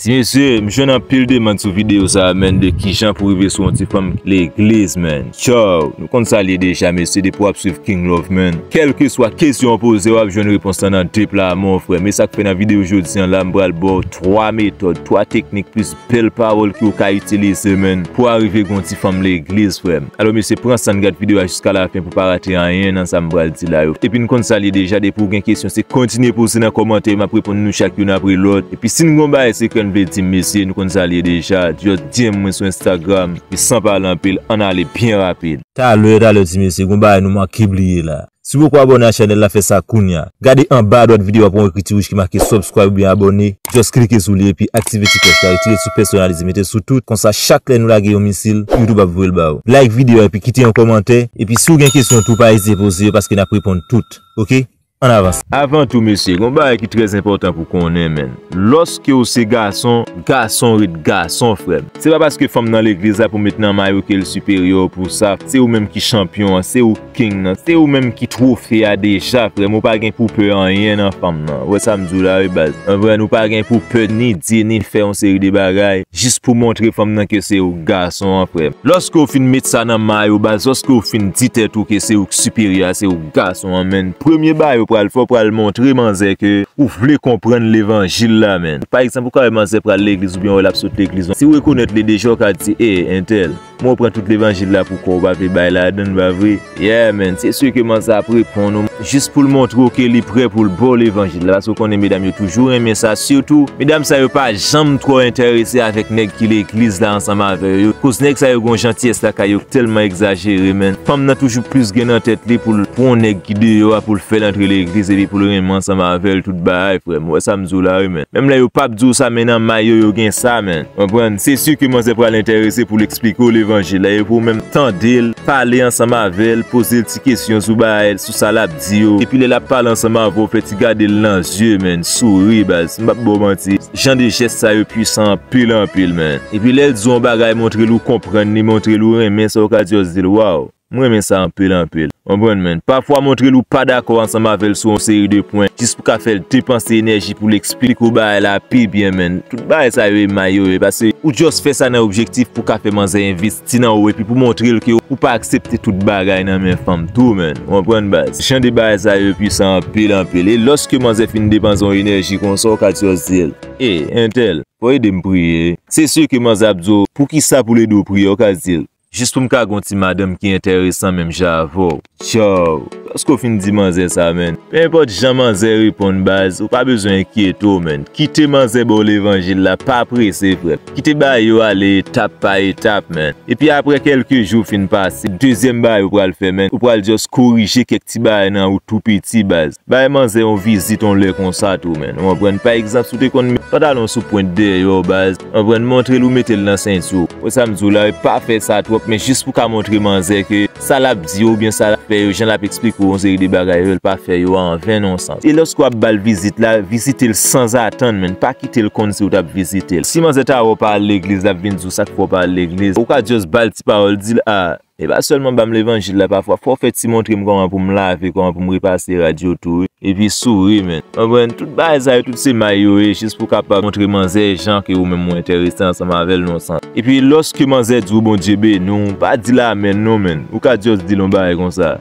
Ti mesye m jwenn anpil demand sou video sa menn de kijan pou rive sou yon ti fanm k legliz menn tchaww nou konn sal ye deja mesye depi wap swiv king love menn kelkeswa kesyon ou poze wap jwenn repons lan nan de pla mon frè me sak fè nan video jodi an la m pral baw 3 metòd 3 teknik plis bèl pawòl ke ou ka itilize menn pou arive gen yon ti fanm legliz frèm. Alo mesye pran sann gad video a jiska la fen pou pa rate anyen nan sa m pral di la yo. Epi n konn sa l ye deja depi w gen kesyon se kontinye poze nan kòmantè yo m ap reponn nou chak youn apre lòt. Epi si n gon bagay sekrè n vle di m mesye nou konn sa l ye deja just DM mwen sou Instagram epi san pale anpil ann ale byen rapid. Talè talè ti mesye gon bagay nou manke bliye la. Si w poko abòne a chanèl la fè sa kounya. Gade anba adwat videyo a pou yon ekriti wouj ki make subscribe oubyen abòne, just klike sou li epi aktive ti klòch la, retire l sou pèsonalize mete l sou tout, konsa chak lè nou lage yon misil, YouTube ap voye l ba ou. Like videyo a epi kite yon kòmantè, epi si w gen kesyon tou pa ezite poze yo paske nap reponn tout ok. An avans. Avan tou mesye, gon bagay ki trè enpòtan pou konnen menn, lòske w se gason, gason ret gason frè m. Se pa paske fanm nan legliz la pou met nan may ou ke l siperyè w pou sa, se ou menm ki chanpyon an, se ou. King nan se ou menm ki trofe a deja frèm ou pa gen pou pè anyen nan fanm nan wè sam diw la wi baz mwen vre nou pa gen pou pè ni di ni fè yon seri de bagay jis pou montre fanm nan ke se ou k gason an frèm. Lòske ou fin met sa nan may ou baz lòske ou fin di tèt ou ke se ou k siperyè a se ou k gason an menn premye bagay ou pral fè ou pral montre manzè ke ou vle konprann levanjil la menn pa egzanp ou ka wè manzè pral legliz oubyen ou wè lap sot legliz si ou rekonèt li deja ou ka di ee entèl M'en w pran tout levanjil la pou kòw pa vle bay ladann pa vre? Yeah man se ce ke man sa ap reponn ou jis poul montre w ke li prè poul baw levanjil la paske w konnen medam yo toujou renmen sa sitou medam sa yo pa janm twò entèrese avèk nèg ki legliz la ansanm avè yo koz nèg sa yo gon jantyès lakay yo k tèlman egzajere man fanm nan toujou plis gen nan tèt li poul pwan nèg ki deyò a poul fèl antre legliz epi poul renmen ansanm avèl tout bahay frèm wè sam di w la wi man menm lè yo pap di w sa men nan may yo yo gen sa man. Konprann? Se si ke manzè pral enterese pou l eksplike w levanjil la e pou ou menm tande l, pale ansanm avè l, poze l ti kesyon sou bagay, sou sa l ap di yo. Epi lè l ap pale ansanm avè w, fè ti gade l nan zye menn, souri baz. M pap ba w manti, jan de jès sa yo pwisan anpil anpil menn. Epi lè l di w yon bagay montre l ou konprann li, montre l ou renmen sa w ka di yo se di l waw. M renmen sa anpil anpil. Konprann mwen. Pafwa montre l ou pa dakò ansanm avè l sou yon seri de pwen, jis pou ka fè l depanse enèji pou l eksplike w bagay la pi byen menn. Tout bagay sa yo emay yo ye, pase ou just fè sa nan objektif pou ka fè manzè envesti nan ou epi pou montre l ke ou pa aksepte tout bagay nan men fanm tou menn. Ou konprann baz. Jan de bagay sa yo pwisan anpil anpil. E lòske manzè fin depanse yon enèji konsa ou ka just di l, Ey, entèl, fò w ede m priye. Se si ke manzè ap di w, Poukisa pou l ede w priye? Ou ka di l, Jis pou m ka gen yon ti madanm ki enteresan menm jan avè w. Tchaww, paske w fin di manzè sa menn. Pe enpòt jan manzè reponn baz, ou pa bezwen enkyete w menn. Kite manzè ba w levanjil la, pa prese frè m. Kite bayo w ale etap pa etap menn. Epi aprè kèlke jou fin pase, dezyèm bayo w pral fè menn, ou pral just korije kèk ti bagay nan ou tou piti baz. Bay manzè yon vizit yon lè konsa tou menn. Ou konprann? Pa egzanp, si w te konn met pantalon w sou pwent dèyè w baz. Konprann montrel ou metel nan senti w. Wè sam diw la wi pa fè sa twòp men jis pou ka montre manzè ke sa lap di yo oubyen sa lap fè yo jan lap eksplike w yon seri de bagay yo el pa fè yo a anven nan yon sans e lòske wap bal vizit la vizitel sanzatann menn pa kitel konn siw tap vizitel si manzè ta wè w pa al legliz lap vin diw sak fè w pa al legliz ou ka just bal ti pawòl dil a Epa sèlman banm levanjil la pafwa fòw fè ti montrem kòman poum lave kòman poum repase rad yo tou wi epi souri men ou konprann tout bagay sa yo tout se may yo ye jis pou kapab montre manzè jan ke ou menm ou entèrese ansanm avèl nan yon sans epi lòske manzè diw Bondye beniw pa dil amèn non menn ou ka just dil yon bagay konsa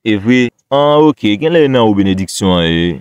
evre an ok genlè e nan ou benediksyon an ye.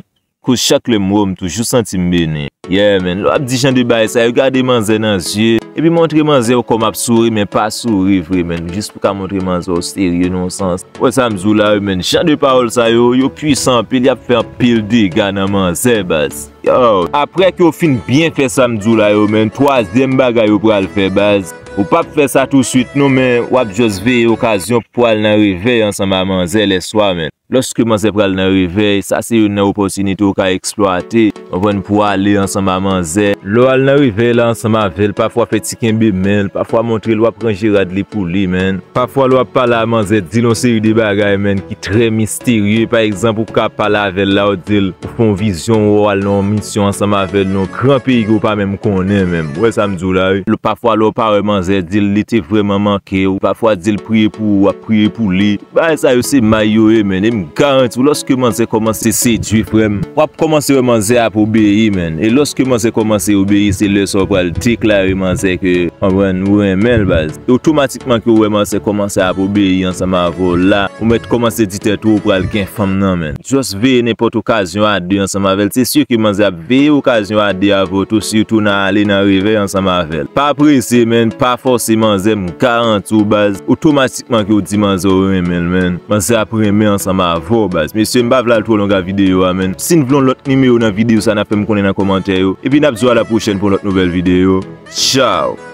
Koz chak lèm wèw m toujou santim beni. Yeah man, lè wap di jan de bagay sa yo gade manzè nan zye, epi montre manzè w kòm ap souri men pa souri vre man, jis pou ka montre manzè w serye nan yon sans. Wè sam di w la wi man, jan de pawòl sa yo, yo pwisan anpil yap fè anpil dega nan manzè baz. Yow. Aprè ke w fin byen fè sam di w la yo man, twazyèm bagay ou pral fè baz, ou pap fè sa tou swit non men wap just veye okazyon pou al nan revèy ansanm a manzè lè swa man. Lòske manzè pral nan revèy, sa se youn nan opòtinite ou ka eksplwate, konprann, pou ale ansanm a manzè. Lè w al nan revèy la ansanm avè l, pafwa fè ti kenbe men l, pafwa montre l w ap ranje rad li pou li, menn. Pafwa lè w ap pale a manzè, di l yon seri de bagay, menn, ki trè misterye. Pa egzanp, ou ka pale avè l la, ou di l, ou fè yon vizyon, ou wè w al nan yon misyon ansanm avè l nan yon gran peyi ke w pa menm konnen, menn. Ou wè sa m di w la, wi. Pafwa lè w pa wè manzè, di l li te vrèman manke w. Pafwa di l priye pou ou, w ap priye pou li. Bagay sa yo se may yo ye menn e m garanti w lòske manzè kòmanse sedwi frè m w ap kòmanse wè manzè ap obeyi menn e lòske manzè kòmanse obeyi se lè sa w pral deklare manzè ke konprann ou renmen l baz e otomatikman ke w wè manzè kòmanse ap obeyi ansanm avè w la ou mèt kòmanse di tèt ou ou pral gen fanm nan menn just veye nenpòt okazyon a 2 ansanm avè l se si ke manzè ap veye okazyon a 2 avè w tou sitou nan ale nan revèy ansanm avè l pa prese menn pa fòse manzè m garanti w baz otomatikman. Ki manke ou di manzè ou renmen l menn. Manzè ap renmen ansanm avèw baz. Mesye m pa vle al twò longa videyo a menn. Sin vle yon lòt nimewo nan videyo sa na fèm konnen nan kòmantè yo. Epi nap di w a la pwochèn pou yon lòt nouvèl videyo. Tchaw!